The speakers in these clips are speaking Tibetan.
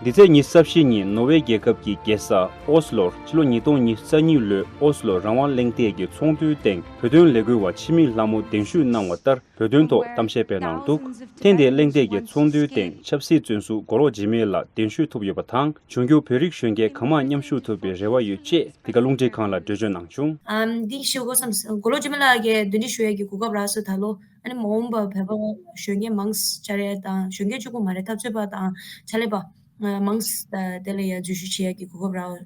འདི་ཚེས་ཉིན་གསར་བཞེངས་ཉིན་ནོ་ཝེ་རྒྱལ་ཁབ་ཀྱི་རྒྱལ་ས་ཨོ་སི་ལོར་ཕྱི་ལོ་ཉིས་སྟོང་ཉིས་རྩ་གཉིས་ལོའི་ཨོ་སི་ལོ་རང་དབང་གླེང་སྟེགས་ཀྱི་ཚོགས་འདུའི་སྟེང་བོད་དོན་ལས་འགུལ་བ་འཆི་མེད་ལྷ་མོ་གདན་ཞུས་གནང་བ་ལྟར་བོད་དོན་ཐོག་གཏམ་བཤད་སྤེལ་གནང་འདུག་ཐེངས་འདིའི་གླེང་སྟེགས་ཀྱི་ཚོགས་འདུའི་སྟེང་ཆབ་སྲིད་བཙོན་ཟུར་མགོ་ལོག་འཇིགས་མེད་ལགས་གདན་ཞུས་ཐུབ་ཡོད་པ་དང་འབྱུང་འགྱུར་བོད་རིགས་གཞོན་སྐྱེས་གང་མང་མཉམ་ཞུགས་ཐུབ་པའི་རེ་བ་ཡོད་ཅེས་འདི་ག་རླུང་འཕྲིན་ཁང་ལ་འགྲེལ་བརྗོད་གནང་བྱུང། འདི་ཞུ་སྒོ་མཚམས་མགོ་ལོག་འཇིགས་མེད་ལགས་ཀྱིས་འདོན་འགྲེལ་ཞུ་ཡས་ཀྱི་གོ་སྐབས་རགས་སུ་ད་ལོ། ཨ་ནི་མ་འོངས་པར་བོད་པ་གཞོན་སྐྱེས་མང་ཆ་རེ་དང་གཞོན་སྐྱེས་བཅུ་དགུ་མ་རེ་འཐབ་རྩོད་པ་དང་ཕྱག་ལས་པ། མང་དེ་ལ་ཡང་འཛུལ་ཞུགས་བྱེད་ཡག་གི་གོ་སྐབས་རག་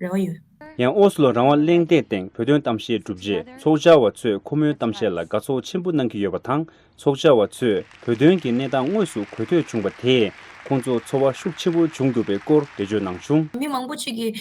རེ་བ་ཡོད། ཡང་ཨོ་སི་ལོ་རང་དབང་གླེང་སྟེགས་སྟེང་བོད་དོན་གཏམ་བཤད་གྲུབ་རྗེས་ཚོགས་བཅར་བ་ཚོས་ཁོ་མོའི་གཏམ་བཤད་ལ་དགའ་ཚོར་ཆེན་པོ་གནང་གི་ཡོད་པ་དང་ཚོགས་བཅར་བ་ཚོས་བོད་དོན་གྱི་གནས་སྟངས་དངོས་སུ་གོ་ཐོས་བྱུང་བ་དེས་ཁོང་ཚོར་ཚོར་བ་ཤུགས་ཆེན་པོ་བྱུང་འདུག་པའི་སྐོར་འགྲེལ་བརྗོད་གནང་བྱུང། མི་མང་པོ་ཅིག་གིས།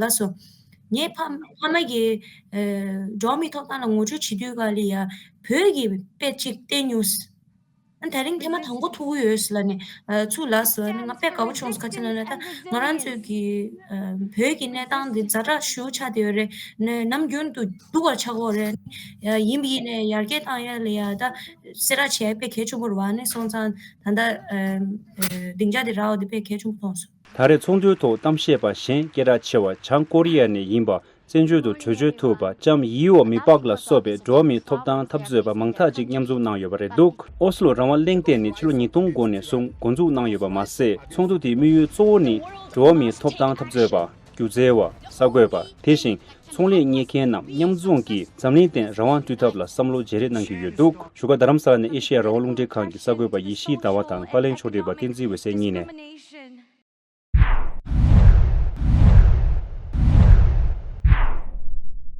ལ་སོ། ངས་ཕ་མ་གི་འགྲོ་མི་ཐོབ་ཐང་ལ་ངོ་སྤྲོད་བྱེད་དུས་ག་ལི་ཡ་བོད་ཀྱི་དཔེ་ཅིག་བལྟས་མྱོང། ད་རིང་ཐེངས་མ་དང་པོ་ཐུག་གི་ཡོད་ལ་ནི་ཚུ་ལ་སོ། ང་དཔེ་དགའ་པོ་བྱུང་ཁ་ཚིག་ལ་ལ་ད་ང་རང་ཚོའི་གི་བོད་ཀྱི་གནས་སྟངས་འདི་ཛ་དྲག་ཞུ་ཆགས་དེ་ཡོད་རེད་ནི་ནམ་རྒྱུན་དུ་སྡུག་བར་ཆགས་འོ་རེད་ནི་ཡིན་པ་ཡིན་ནི་ཡར་རྒྱས་བཏང་ཡ་ལི་ཡ་ད་སེ་ར་ཆའི་དཔེ་གལ་ཆུང་པོར་བ་ནི་སོང་ཙང་ད་ད་སྡིངས་ཆ་དེ་ར་འོ་དེ་དཔེ་གལ་ཆུང་པོ་ཐོངས་སོ། ད་རེས་ཚོགས་འདུའི་ཐོག་གཏམ་བཤད་པ་གཞན་སྐད་གྲགས་ཆེ་བ་བྱང་ཀོ་རི་ཡ་ནས་ཡིན་པ་བཙན་བྱོལ་དུ་བྲོས་བྱོལ་ཐུབ་པ་ལྕམ་ཡིའོ་མི་པག་ལ་སོགས་པའི་འགྲོ་བ་མིའི་ཐོབ་ཐང་འཐབ་རྩོད་པ་མང་དག་ཅིག་མཉམ་འཛོམས་གནང་ཡོད་པ་རེད་འདུག་ཨོ་སི་ལོ་རང་དབང་གླེང་སྟེགས་ནི་ཕྱི་ལོ་ཉིས་སྟོང་དགུ་ནས་བཟུང་འགོ་འཛུགས་གནང་ཡོད་པ་མ་ཟད་ཚོགས་འདུ་དེའི་དམིགས་ཡུལ་གཙོ་བོ་ནི་འགྲོ་བ་མིའི་ཐོབ་ཐང་འཐབ་རྩོད་པ། སྒྱུ་རྩལ་བ། གསར་འགོད་པ། དེ་བཞིན་ཚོང་ལས་གཉེར་མཁན་རྣམས་མཉམ་འཛོམས་ཀྱིས་འཛམ་གླིང་སྟེང་རང་དབང་བསྐྲུན་ཐབས་ལ་བསམ་བློ་བརྗེ་རེས་གནང་གི་ཡོད་འདུག་བཞུགས་སྒར་རྡ་རམ་ས་ལ་ནས་ཨེ་ཤེ་ཡ་རང་དབང་རླུང་འཕྲིན་ཁང་གི་གསར་འགོད་པ་ཡེ་ཤེས་ཟླ་བ་དང་པཱ་ལེན་ཕྱོགས་བསྒྲིགས་པ་བསྟན་འཛིན་འོད་གསལ་གཉིས་ནས།